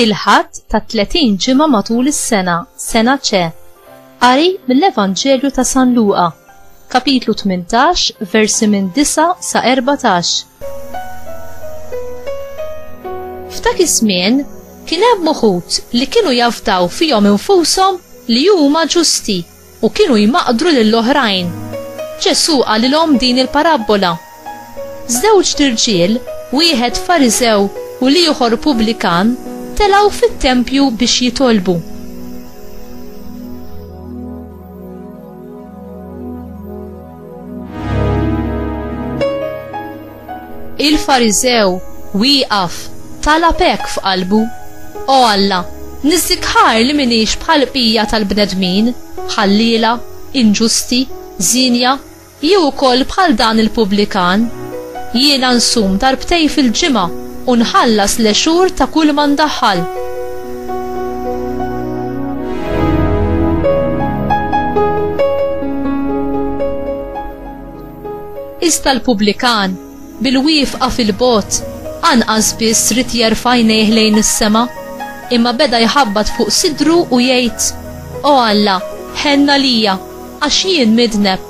il-ħadd ta' 30 ġimgħa matul is-sena, sena ċe. Qari mill-Evanġelju ta' San Luqa. Kapitlu 18, versi minn 9 sa 14. F'dak iż-żmien kien hemm uħud li kienu jafdaw fihom infushom li huma ġusti u kienu jmaqdru lill-oħrajn. Ġesù qalilhom din il-parabbola Żewġt irġiel, wieħed Fariżew u l-ieħor pubblikan, telgħu fit-tempju biex jitolbu. Il-Fariżew wieqaf talab hekk f'qalbu, O Alla, niżżikħar li minix bħal bqija tal-bnedmin, ħalliela, inġusti, żienja, Jew ukoll bħal dan il-pubblikan, Jiena nsum darbtejn fil-ġimgħa u nħallas l-għexur ta' kulma ndaħħal. Iżda l-pubblikan, bil-wieqfa fil-bogħod, anqas biss ried jerfa' għajnejh lejn is-sema, imma beda jħabbat fuq sidru u jgħid, O Alla, ħenn għalija! Għax jien midneb.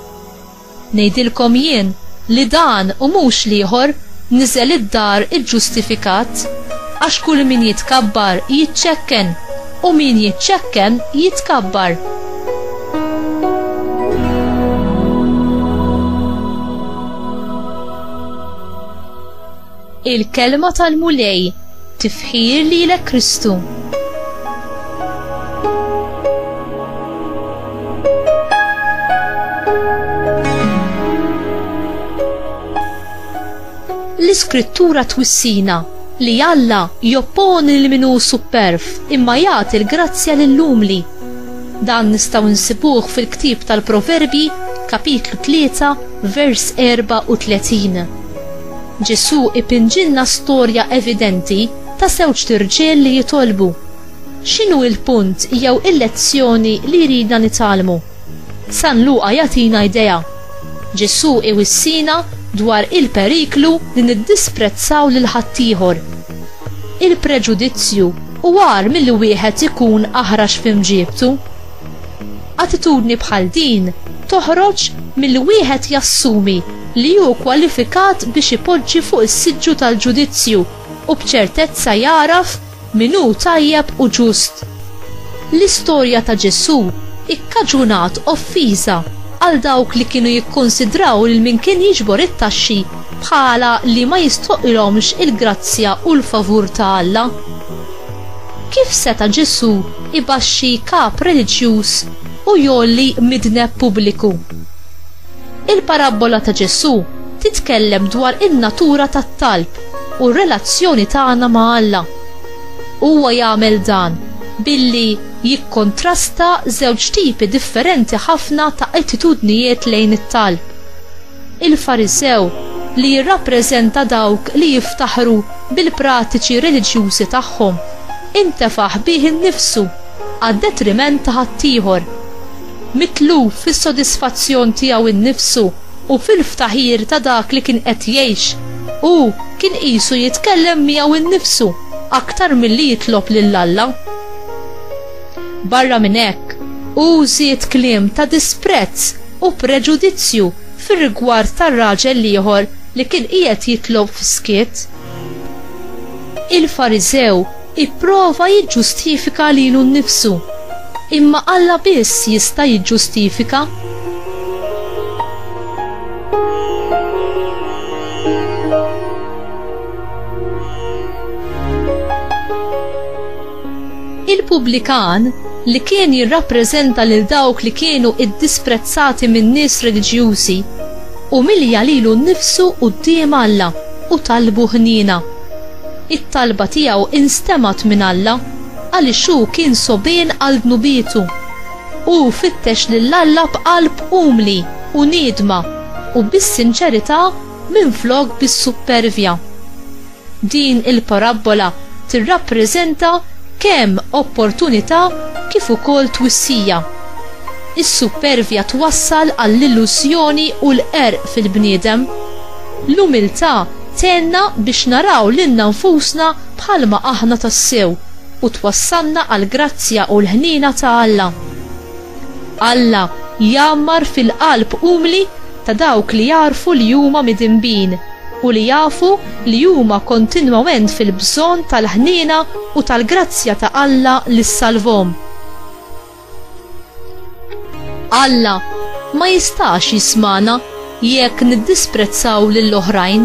Ngħidilkom jien li dan u mhux l-ieħor niżel id-dar iġġustifikat. Għax kull min jitkabbar jiċċekken, u min jiċċekken jitkabbar. Il-kelma tal-Mulej tifħir lilek Kristu. L-iskrittura twissina li Alla jopponi l minu superf imma jagħti l-grazzja lill-umli. Dan nistgħu nsibuh fil-ktieb tal-Proverbji kapitlu 3 vers 34. Ġesù ipinġilna storja evidenti ta' żewġt irġiel li jitolbu. X'inhu il-punt jew il-lezzjoni li jridna nitgħallmu? San Luqa jagħtina idea. Ġesù iwissina dwar il-periklu li niddisprezzaw lil ħaddieħor. Il-preġudizzju hu agħar milli wieħed ikun aħrax f'imġiebtu. Attitudni bħal din toħroġ milli wieħed jassumi li hu kwalifikat biex ipoġġi fuq is-siġġu tal-ġudizzju u b'ċertezza jagħraf min hu tajjeb u ġust. L-istorja ta' Ġesù ikkaġunat offiża għal dawk li kienu jikkunsidraw lil min kien jiġbor it-taxxi bħala li ma jistħoqqilhomx il-grazzja u l-favur ta' Alla. Kif seta' Ġesù jbaxxi kap reliġjuż u jgħolli midneb pubbliku? Il-parabbola ta' Ġesù titkellem dwar in-natura tat-talb u r-relazzjoni tagħna ma' Alla. Huwa jagħmel dan billi jikkontrasta żewġ tipi differenti ħafna ta' attitudnijiet lejn it-talb. Il-Farisew, li jirrappreżenta dawk li jiftaħru bil-pratiċi reliġjużi tagħhom, intefaħ bih innifsu għad-detriment ta' ħaddieħor. Mitluf fis-sodisfazzjon tiegħu nnifsu u fil-ftaħir ta' dak li kien qed jgħix, hu kien qisu jitkellem miegħu nnifsu aktar milli jitlob lil Alla. Barra minn hekk, hu żied kliem ta' disprezz u preġudizzju fir-rigward ta' raġel l-ieħor li kien qiegħed jitlob f'skiet, il-Fariżew ipprova jiġġustifika lilu nnifsu, imma Alla biss jista' jiġġustifika. Il-pubblikan, li kien jirrappreżenta lil dawk li kienu ddisprezzati min-nies reliġjużi, umilja lilu nnifsu quddiem Alla u talbu ħniena. It-talba tiegħu instemgħet minn Alla għaliex hu kien sogħbien għal dnubietu. Hu fittex lil Alla b'qalb umli u niedma u bis-sinċerità minflok bis-suppervja. Din il-parabbola tirrappreżenta kemm opportunità kif ukoll twissija. Is-suppervja twassal għall-illużjoni u l-qerq fil-bniedem. L-umiltà tgħinna biex naraw lilna nfusna bħalma aħna tassew u twassalna għall-grazzja u l-ħniena ta' Alla. Alla jgħammar fil-qalb umli ta' dawk li jagħrfu li huma midinbin u li jafu li huma kontinwament fil-bżonn tal-ħniena u tal-grazzja ta' Alla li ssalvhom. Alla ma jistax jismagħna jekk niddisprezzaw lill-oħrajn.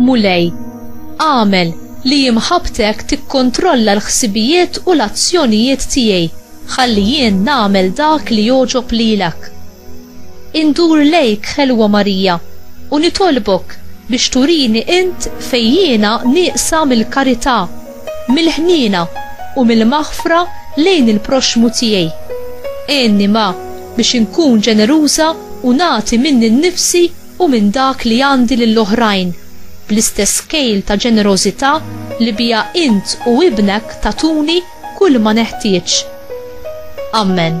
Mulej, agħmel li imħabbtek tikkontrolla l-ħsibijiet u l-azzjonijiet tiegħi ħalli jien nagħmel dak li jogħġob lilek. Indur lejk, Ħelwa Marija, u nitolbok biex turini int fejn jiena nieqsa mill-karità, mill-ħniena u mill-maħfra lejn il-proxxmu tiegħi. Għinni ma biex inkun ġeneruża u nagħti minni nnifsi u minn dak li għandi lill-oħrajn, bl-istess kejl ta' ġenerożità li biha int u ibnek tagħtuni kull ma neħtieġ. Ammen.